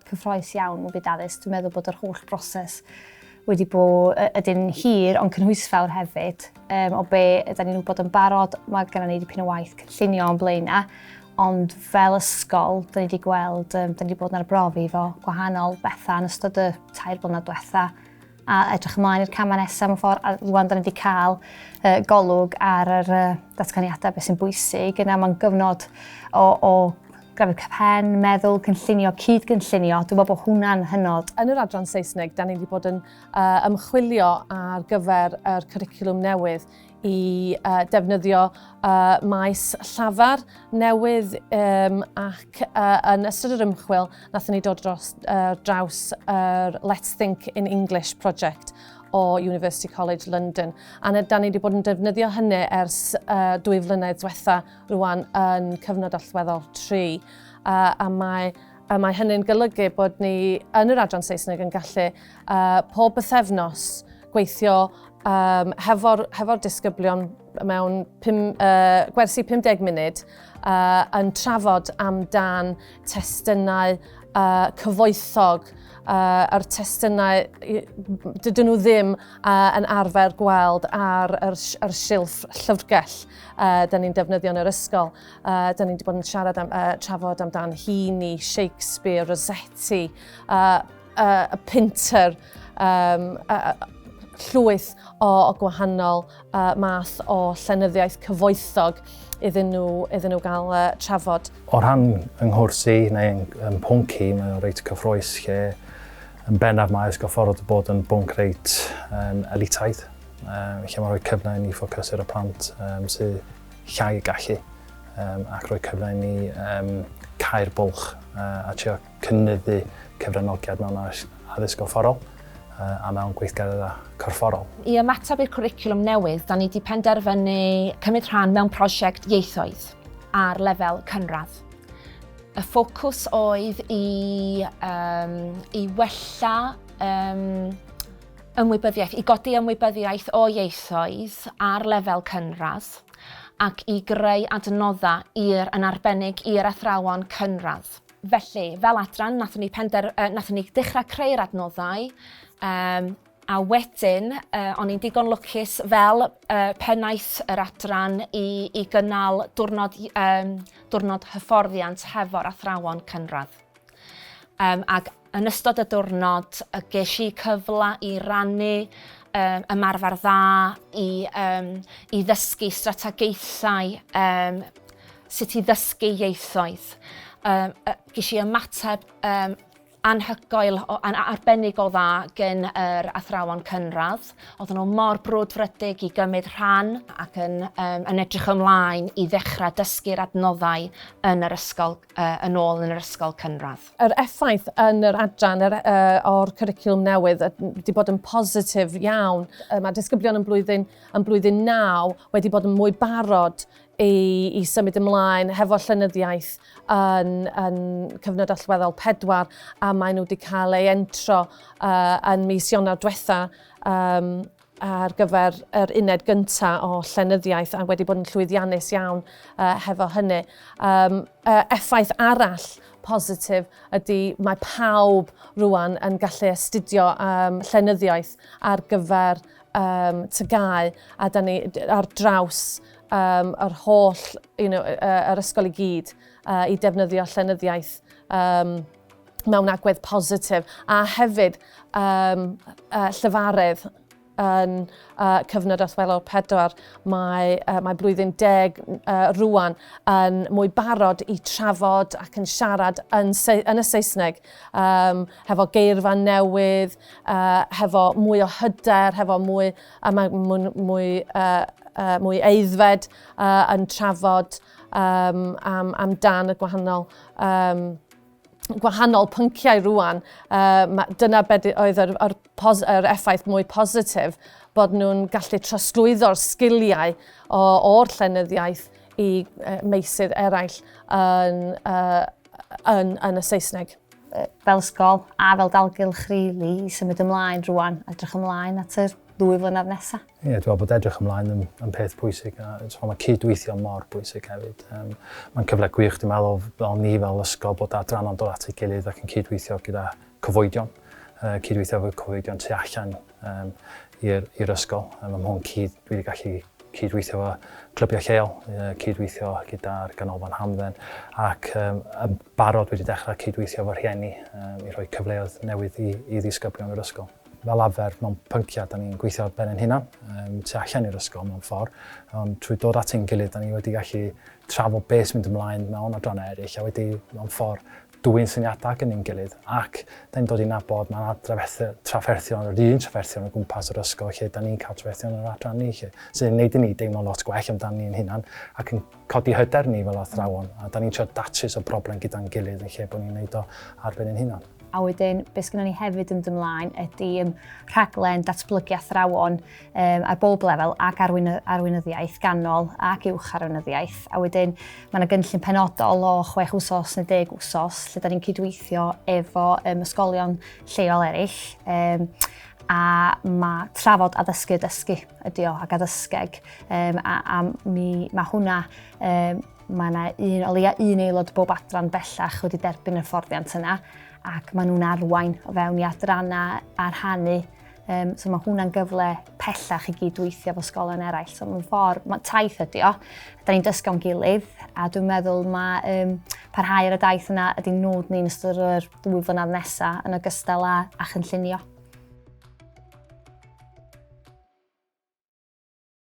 Cyffroes iawn y byd addysg. Dwi'n meddwl bod yr holl broses wedi bod ydyn hir ond cynhwysfawr hefyd. Um, o be ydy ni'n wybod yn barod, mae gennym ni dipyn o waith cynllunio o'n blaen na, ond fel ysgol, dyn ni wedi gweld, um, dyn ni wedi bod yn arbrofi fo gwahanol bethau yn ystod y tair blynedd diwetha. a edrych ymlaen i'r camau nesaf mewn ffordd, a rwan da ni wedi cael uh, golwg ar yr uh, datganiadau beth sy'n bwysig, yna mae'n gyfnod o, o grafydd cyfhen, meddwl, cynllunio, cyd-gynllunio, dwi'n meddwl bod hwnna'n hynod. Yn yr adran Saesneg, da ni wedi bod yn uh, ymchwilio ar gyfer yr cwricwlwm newydd i uh, defnyddio uh, maes llafar newydd um, ac uh, yn ystod yr ymchwil nathon ni dod dros uh, draws yr uh, Let's Think in English project o University College London. A da ni wedi bod yn defnyddio hynny ers uh, dwy flynedd diwetha rwan yn cyfnod allweddol 3. Uh, a mae a mae hynny'n golygu bod ni yn yr adran Saesneg yn gallu uh, pob bythefnos gweithio um, hefo'r hefo disgyblion mewn pum, uh, gwersi 50 munud uh, yn trafod amdan testunau uh, cyfoethog uh, a'r testunau dydyn nhw ddim uh, yn arfer gweld ar yr, yr silff llyfrgell uh, da ni'n defnyddio yn yr ysgol. Uh, da ni wedi bod yn siarad am, uh, trafod amdan Heaney, Shakespeare, Rossetti, uh, uh, a pinter, um, uh, llwyth o, o gwahanol uh, math o llenyddiaeth cyfoethog iddyn nhw, iddyn nhw gael uh, trafod. O rhan yng nghwrs i neu yng, yng pwnci, mae o'n reit cyffroes lle yn bennaf mae ysgol ffordd bod yn bwnc reit um, elitaidd, um, lle mae'n rhoi cyfle i ni ffocus ar y plant um, sydd llai y gallu um, ac rhoi cyfle i ni um, cael bwlch uh, a trio cynyddu cyfranogiad mewn addysg gorfforol a mewn gweithgareddau corfforol. I ymateb i'r cwricwlwm newydd, da ni wedi penderfynu cymryd rhan mewn prosiect ieithoedd ar lefel cynradd. Y ffocws oedd i, um, i wella um, ymwybyddiaeth, i godi ymwybyddiaeth o ieithoedd ar lefel cynradd ac i greu adnoddau i'r yn arbennig i'r athrawon cynradd. Felly, fel adran, nathon ni pender... Uh, nathon ni dechrau creu'r adnoddau, um, a wedyn, uh, o'n i'n digon lwcus fel uh, pennaeth yr adran i, i gynnal diwrnod, um, diwrnod hyfforddiant hefo'r athrawon cynradd. Um, ac Yn ystod y diwrnod, ges i cyfle i rannu um, ymarfer dda, i, um, i ddysgu strategaethau um, sut i ddysgu ieithoedd. Um, ges i ymateb um, anhygoel, an, arbennig o dda gen yr athrawon cynradd. Oedden nhw mor brwdfrydig i gymryd rhan ac yn, um, yn edrych ymlaen i ddechrau dysgu'r adnoddau yn yr ysgol yn ôl yn yr ysgol cynradd. Yr effaith yn yr adran yr, uh, o'r cwricwlwm newydd wedi bod yn positif iawn. Uh, mae disgyblion yn blwyddyn, yn blwyddyn naw wedi bod yn mwy barod i, i symud ymlaen hefo llynyddiaeth yn, yn cyfnod allweddol pedwar a maen nhw wedi cael ei entro uh, yn mis Ionawr diwetha um, ar gyfer yr uned gynta o llenyddiaeth a wedi bod yn llwyddiannus iawn uh, hefo hynny. Um, uh, effaith arall positif ydy mae pawb rwan yn gallu astudio um, llenyddiaeth ar gyfer um, tygau a da ni ar draws um, yr holl, you know, uh, yr ysgol i gyd uh, i defnyddio llenyddiaeth um, mewn agwedd positif a hefyd um, uh, llyfaredd yn uh, cyfnod allweddol pedwar. Mae, uh, mae blwyddyn deg uh, rwan yn mwy barod i trafod ac yn siarad yn, yn y Saesneg um, hefo geirfa newydd, uh, hefo mwy o hyder, hefo mwy, a mae mwy, mwy, uh, uh, mwy eiddfed uh, yn trafod um, am, am dan y gwahanol um, gwahanol pynciau rwan, uh, dyna beth oedd yr, yr, pos, yr effaith mwy positif bod nhw'n gallu trosglwyddo'r sgiliau o'r llenyddiaeth i uh, meysydd eraill yn, uh, yn, yn y Saesneg fel ysgol a fel dalgylch rili really, i symud ymlaen rwan, edrych ymlaen at y ddwy flynedd nesaf. Ie, dwi'n meddwl bod edrych ymlaen yn, yn peth pwysig a so, mae cydweithio mor bwysig hefyd. Um, mae'n cyfle gwych, dwi'n meddwl, fel ni fel ysgol bod adranna'n dod at ei gilydd ac yn cydweithio gyda cyfoedion, uh, cydweithio efo cyfoedion tu allan um, i'r ysgol. Um, mae hwn cyd, dwi wedi gallu cydweithio efo clybiau lleol, uh, cydweithio gyda'r ganolfan hamdden, ac um, barod wedi dechrau cydweithio efo rhieni um, i rhoi cyfleoedd newydd i, i ddisgyblion yr ysgol. fel arfer mewn pynciau, da ni'n gweithio ar ben ein hunan, um, tu allan i'r ysgol mewn ffordd, ond trwy dod at ein gilydd, da ni wedi gallu trafod beth sy'n mynd ymlaen mewn adrannau eraill, a wedi mewn ffordd dwy'n syniadau ac yn ein gilydd, ac da ni'n dod i'n nabod mae trafferthion, yr un trafferthion o gwmpas yr ysgol lle da ni'n cael trafferthion yr adran ni, lle, sy'n ei wneud i ni deimlo lot gwell amdano ni'n hunan ac yn codi hyder ni fel athrawon, a da ni'n trio datrys o broblem gyda'n gilydd yn lle bod ni'n gwneud o ar ben ein hunan. A wedyn, beth sgynnon ni hefyd yn dod ymlaen ydy um, rhaglen datblygu athrawon um, ar bob lefel ac arwyn, arweinyddiaeth ganol ac uwch arweinyddiaeth. A wedyn, mae yna gynllun penodol o chwech wsos neu deg wsos lle da ni'n cydweithio efo um, ysgolion lleol eraill. Um, a mae trafod addysgu dysgu ydy o ac addysgeg um, a, a mi, mae hwnna um, Mae yna un, o leia un aelod bob adran bellach wedi derbyn y fforddiant yna ac maen nhw'n arwain o fewn i adrannau a rhannu. Um, so mae hwnna'n gyfle pellach i gydweithio fo sgolen eraill. So mae'n ffordd, mae taith ydi o, da ni'n dysgo'n gilydd a dwi'n meddwl mae um, parhau ar y daith yna ydy nod ni'n ystod yr ddwy flynedd nesaf yn ogystal â, a chynllunio.